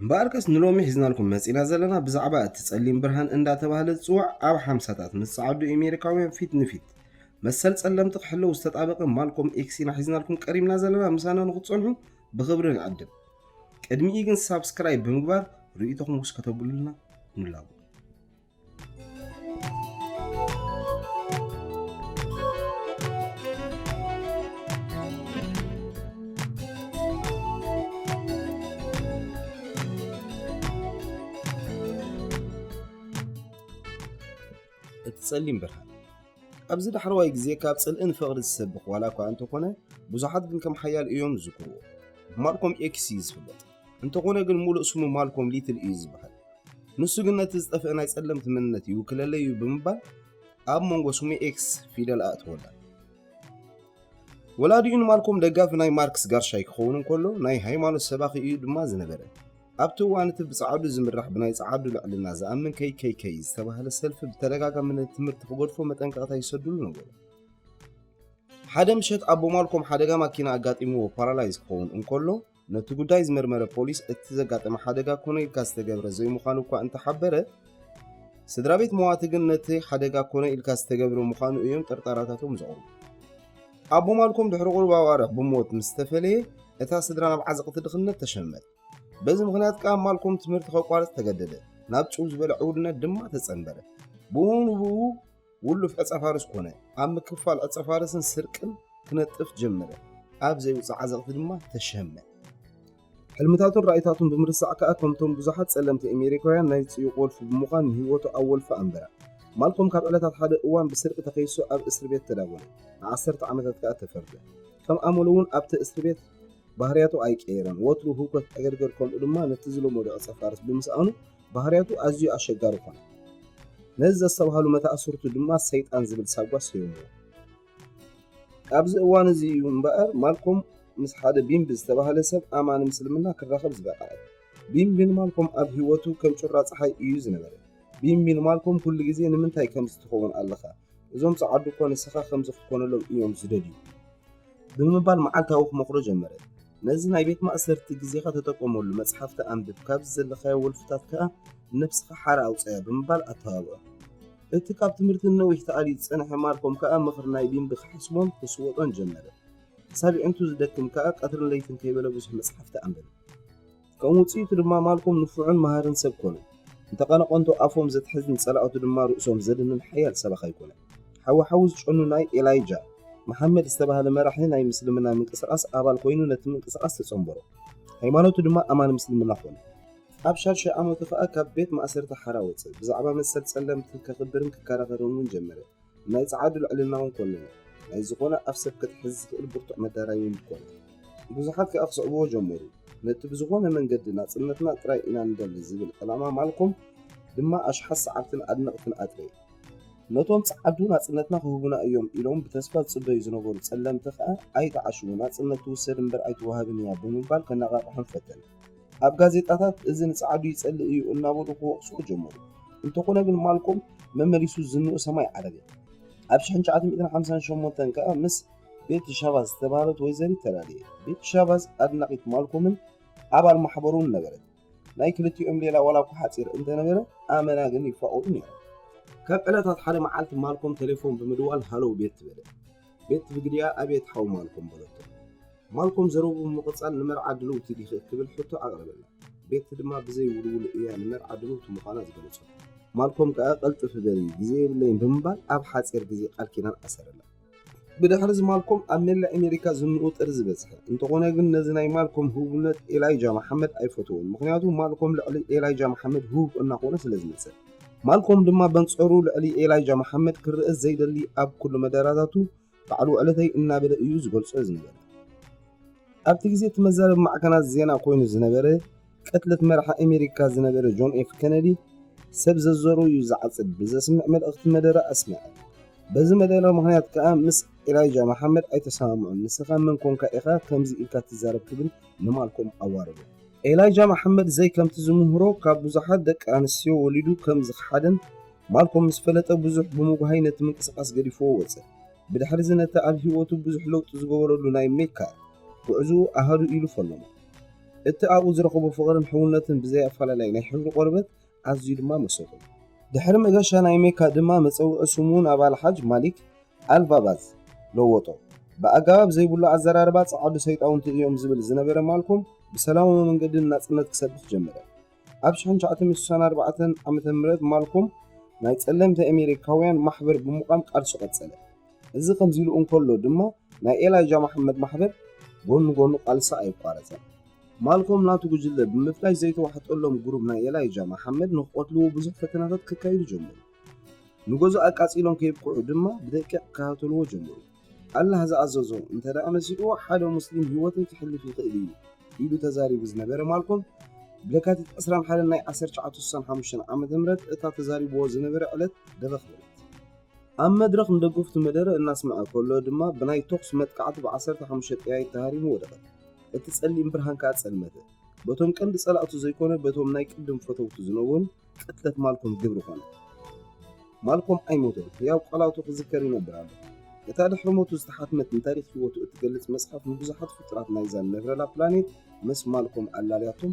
እምበኣርከስ ንሎሚ ሒዝናልኩም መጺእና ዘለና ብዛዕባ እቲ ጸሊም ብርሃን እንዳ ተባህለ ዝጽዋዕ ኣብ ሓምሳታት ምስ ጸዓዱ ኤሜሪካውያን ፊት ንፊት መሰል ጸለምቲ ክሕለው ዝተጣበቀ ማልኮም ኤክስ ኢና ሒዝናልኩም ቀሪብና ዘለና ምሳና ንክትጸንሑ ብክብሪ ንዕድም ቅድሚኡ ግን ሳብስክራይብ ብምግባር ርእይቶኹም ውስ ከተብሉልና ንላቦ። እቲ ጸሊም ብርሃን ኣብዚ ዳሕረዋይ ግዜ ካብ ጽልእን ፍቕሪ ዝሰብኽ ዋላ እኳ እንተኾነ ብዙሓት ግን ከም ሓያል እዮም ዝዝክርዎ ብማልኮም ኤክስ እዩ ዝፍለጥ እንተኾነ ግን ሙሉእ ስሙ ማልኮም ሊትል እዩ ዝበሃል። ንሱ ግን ነቲ ዝጠፍአ ናይ ጸለምቲ መንነት ይውክለለይ እዩ ብምባል ኣብ መንጎ ስሙ ኤክስ ፊደል ኣእተወላ። ወላዲኡ ንማልኮም ደጋፊ ናይ ማርክስ ጋርሻይ ክኸውን እንከሎ ናይ ሃይማኖት ሰባኺ እዩ ድማ ዝነበረ። ኣብቲ እዋን እቲ ብጸዓዱ ዝምራሕ ብናይ ጸዓዱ ልዕልና ዝኣምን KKK ዝተባህለ ሰልፊ ብተደጋጋሚ ነቲ ትምህርቲ ክገድፎ መጠንቀቕታ ይሰድሉ ነበሩ። ሓደ ምሸት ኣቦ ማልኮም ሓደጋ ማኪና ኣጋጢምዎ ፓራላይዝ ክኸውን እንከሎ ነቲ ጉዳይ ዝመርመረ ፖሊስ እቲ ዘጋጠመ ሓደጋ ኮነ ኢልካ ዝተገብረ ዘይምዃኑ እኳ እንተሓበረ ስድራ ቤት መዋቲ ግን ነቲ ሓደጋ ኮነ ኢልካ ዝተገብረ ምዃኑ እዮም ጥርጣራታቶም ዘቕርቡ ኣቦ ማልኮም ድሕሪ ቁርብ ኣዋርሕ ብሞት ምስ ተፈለየ እታ ስድራ ናብ ዓዘቕቲ ድኽነት ተሸመት በዚ ምክንያት ከዓ ማልኮም ትምህርቲ ከቋርፅ ተገደደ ናብ ጭው ዝበለ ዕውድነት ድማ ተፀንበረ ብኡ ንብኡ ውሉፍ ዕጸፋርስ ኮነ። ኣብ ምክፋል ዕጸፋርስን ስርቅን ክነጥፍ ጀመረ። ኣብ ዘይውጽእ ዓዘቕቲ ድማ ተሸመ። ሕልምታቱን ራኢታቱን ብምርሳዕ ከኣ ከምቶም ብዙሓት ጸለምቲ ኤሜሪካውያን ናይ ጽዩቕ ወልፊ ብምዃን ንህይወቱ ኣብ ወልፊ ኣንበራ። ማልኮም ካብ ዕለታት ሓደ እዋን ብስርቂ ተኸይሱ ኣብ እስርቤት ተዳጎነ። ንዓሰርተ ዓመታት ከኣ ተፈርደ። ከም ኣመሉ'ውን ኣብቲ እስርቤት ባህርያቱ ኣይቀየረን። ወትሩ ህውከት ዕገርገር ከምኡ ድማ ነቲ ዝለመዶ ዕጸፋርስ ብምስኣኑ ባህርያቱ ኣዝዩ ኣሸጋሪ ኮነ። ነዚ ዘስተብሃሉ መታእስርቱ ድማ ሰይጣን ዝብል ሳጓ ሰየምዎ። ኣብዚ እዋን እዚ እዩ እምበኣር ማልኮም ምስ ሓደ ቢምቢ ዝተባህለ ሰብ ኣማኒ ምስልምና ክራኸብ ዝበቕዐ። ቢምቢ ንማልኮም ኣብ ህይወቱ ከም ጩራ ጸሓይ እዩ ዝነበረ። ቢምቢ ንማልኮም ኩሉ ግዜ ንምንታይ ከምዚ ትኸውን ኣለኻ? እዞም ጸዓዱ እኮ ንስኻ ከምዚ ክትኮነሎም እዮም ዝደልዩ። ብምባል መዓልታዊ ክመኽሮ ጀመረ። ነዚ ናይ ቤት ማእሰርቲ ግዜኻ ተጠቀመሉ፣ መጽሓፍቲ ኣንብብ፣ ካብዚ ዘለኻዮ ወልፍታት ከኣ ነብስኻ ሓራ ኣውጽኣያ ብምባል ኣተባብዖ። እቲ ካብ ትምህርቲ ንነዊሕ ተኣልዩ ዝጸንሐ ማልኮም ከኣ ምኽሪ ናይ ቢምቢ ክሓስቦን ክስወጦን ጀመረ። ክሳብ የዒንቱ ዝደክም ከኣ ቀትርን ለይትን ከይበለ ብዙሕ መጽሓፍቲ ኣንበበ። ከም ውጽኢቱ ድማ ማልኮም ንፉዕን መሃርን ሰብ ኰነ። እንተ ቐነቐንቶ ኣፎም ዘትሕዝ ንጸላእቱ ድማ ርእሶም ዘድንን ሓያል ሰባኻይ ኰነ። ሓዊ ሓዊ ዝጨኑ ናይ ኤላይጃ መሓመድ ዝተባህለ መራሒ ናይ ምስልምና ምንቅስቓስ ኣባል ኰይኑ ነቲ ምንቅስቓስ ተጸንበሮ። ሃይማኖቱ ድማ ኣማኒ ምስልምና ኰነ። ኣብ ሻድሻይ ዓመቱ ኸኣ ካብ ቤት ማእሰርቲ ሓራ ወጸ። ብዛዕባ መሰል ጸለምቲ ከኽብርን ክከራኸርን እውን ጀመረ። ናይ ጸዓዱ ልዕልና'ውን ኮነነ፣ ናይ ዝኾነ ኣፍ ሰብ ከትሕዝ ዝኽእል ብርቱዕ መዳራይ'ውን ኮነ። ብዙሓት ከኣ ክስዕብዎ ጀመሩ። ነቲ ብዝኾነ መንገዲ ናጽነትና ጥራይ ኢና ንደሊ ዝብል ዕላማ ማልኮም ድማ ኣሽሓት ሰዓብትን ኣድነቕትን ኣጥረየ። ነቶም ጸዓዱ ናጽነትና ክህቡና እዮም ኢሎም ብተስፋ ዝጽበዩ ዝነበሩ ጸለምቲ ከኣ ኣይትዓሽዉ፣ ናጽነት ትውሰድ እምበር ኣይትወሃብን እያ ብምባል ከነቓቕሖም ፈተነ። ኣብ ጋዜጣታት እዚ ንጸዓዱ ይጸልእ እዩ እናበሉ ክወቕስዎ ጀመሩ። እንተኾነ ግን ማልኮም መመሊሱ ዝንኡ ሰማይ ዓረገ። ኣብ ሽሕን ትሽዓተ ሚእትን ሓምሳን ሸሞንተን ከኣ ምስ ቤቲ ሻቫዝ ዝተባህለት ወይዘሪት ተላለየ። ቤቲ ሻቫዝ ኣድናቒት ማልኮምን ኣባል ማሕበሩን ነበረት። ናይ ክልቲኦም ሌላ ዋላ እኳ ሓጺር እንተነበረ ኣመና ግን ይፋቐሩ ነይሮም። ካብ ዕለታት ሓደ መዓልቲ ማልኮም ተሌፎን ብምድዋል ሃሎው ቤቲ በለ። ቤት ብግዲኣ ኣቤት ሓው ማልኮም በለቶ። ማልኮም ዘረብኡ ብምቕጻል ንመርዓ ድልውቲ ዲኺ እትብል ሕቶ ኣቕረበላ። ቤት ድማ ብዘይ ውልውል እያ ንመርዓ ድልውቲ ምዃና ዝገለጸቶ። ማልኮም ከኣ ቅልጥፍ በሊ ግዜ የብለይን ብምባል ኣብ ሓጺር ግዜ ቃል ኪዳን ኣሰረላ። ብድሕርዚ ማልኮም ኣብ መላእ ኣሜሪካ ዝንኡ ጥሪ ዝበጽሐ። እንተኾነ ግን ነዚ ናይ ማልኮም ህቡብነት ኤላይጃ መሓመድ ኣይፈተዎን፣ ምኽንያቱ ማልኮም ልዕሊ ኤላይጃ መሓመድ ህቡብ እናኾነ ስለዝመጸ። ማልኮም ድማ በንጸሩ ልዕሊ ኤላይጃ መሓመድ ክርእ ዘይደሊ ኣብ ኩሉ መደራታቱ ባዕሉ ዕለተይ እናበለ እዩ ዝገልጾ ዝነበረ። ኣብቲ ግዜ እቲ መዛረቢ ማዕከናት ዜና ኮይኑ ዝነበረ ቅትለት መራሒ ኣሜሪካ ዝነበረ ጆን ኤፍ ከነዲ ሰብ ዘዘሩ እዩ ዝዓጽድ ብዘስምዕ መልእኽቲ መደረ ኣስምዐ። በዚ መደረ ምክንያት ከኣ ምስ ኤላይጃ መሓመድ ኣይተሰማምዑን። ንስኻ መን ኮንካ ኢኻ ከምዚ ኢልካ ትዛረብ ክብል ንማልኮም ኣዋረዶ። ኤላይጃ መሓመድ ዘይ ከምቲ ዝምህሮ ካብ ብዙሓት ደቂ ኣንስትዮ ወሊዱ ከም ዝኸሓደን ማልኮም ምስ ፈለጠ ብዙሕ ብምጉሃይ ነቲ ምንቅስቓስ ገዲፍዎ ወጸ። ብድሕሪዚ ነቲ ኣብ ህይወቱ ብዙሕ ለውጢ ዝገበረሉ ናይ ሜካ ጉዕዞኡ ኣሃዱ ኢሉ ፈነዎ። እቲ ኣብኡ ዝረኸቦ ፍቕርን ሕውነትን ብዘይ ኣፈላላይ ናይ ሕብሪ ቆርበት፣ ኣዝዩ ድማ መሰጡ። ድሕሪ መገሻ ናይ ሜካ ድማ መጸውዒ ስሙ ናብ ኣልሓጅ ማሊክ ኣልቫቫዝ ለወጦ። ብኣጋባብ ዘይብሉ ኣዘራርባ ጸዓዱ ሰይጣውንቲ እዮም ዝብል ዝነበረ ማልኮም ብሰላማዊ መንገዲ ንናጽነት ክሰብኽ ጀመረ። ኣብ ሽሕን ትሽዓተ ሚእትን ስሳን ኣርባዕተን ዓመተ ምህረት ማልኮም ናይ ጸለምቲ ኣሜሪካውያን ማሕበር ብምቛም ቃልሱ ቀጸለ። እዚ ከምዚ ኢሉ እንከሎ ድማ ናይ ኤላይጃ መሓመድ ማሕበር ጎኒ ጎኑ ቃልሲ ኣይቋረጸን። ማልኮም ናቱ ጉጅለ ብምፍላይ ዘይተዋሕጠሎም ጉሩብ ናይ ኤላይጃ መሓመድ ንክቐትልዎ ብዙሕ ፈተናታት ከካይዱ ጀመሩ። ንገዝኡ ኣቃጺሎም ከየብቅዑ ድማ ብደቂቕ ክከታተልዎ ጀመሩ። ኣላህ ዝኣዘዞ እንተደኣ መሲልዎ ሓደ ሙስሊም ህይወተይ ከሕልፍ ይኽእል እዩ ኢሉ ተዛሪቡ ዝነበረ ማልኮም ብለካቲት ዕስራን ሓደን ናይ ዓሰርተ ትሽዓተ ስሳን ሓሙሽተን ዓመተ ምህረት እታ ተዛሪብዎ ዝነበረ ዕለት ደበኽ በለት። ኣብ መድረኽ ንደገፍቱ መደረ እናስምዐ ከሎ ድማ ብናይ ተኹሲ መጥቃዕቲ ብዓሰርተ ሓሙሽተ ጠያይት ተሃሪሙ ወደቐ። እቲ ጸሊም ብርሃን ከኣ ጸልመተ። በቶም ቀንዲ ጸላእቱ ዘይኮነ በቶም ናይ ቅድም ፈተውቱ ዝነውን ቅትለት ማልኮም ግብሪ ኮነ። ማልኮም ኣይሞተን፣ ህያው ቃላቱ ክዝከር ይነብር ኣሎ። እታ ድሕሪ ሞቱ ዝተሓትመት ንታሪኽ ህይወቱ እትገልጽ መጽሓፍ ንብዙሓት ፍጡራት ናይዛ ንነብረላ ፕላኔት ምስ ማልኮም ኣላልያቶም።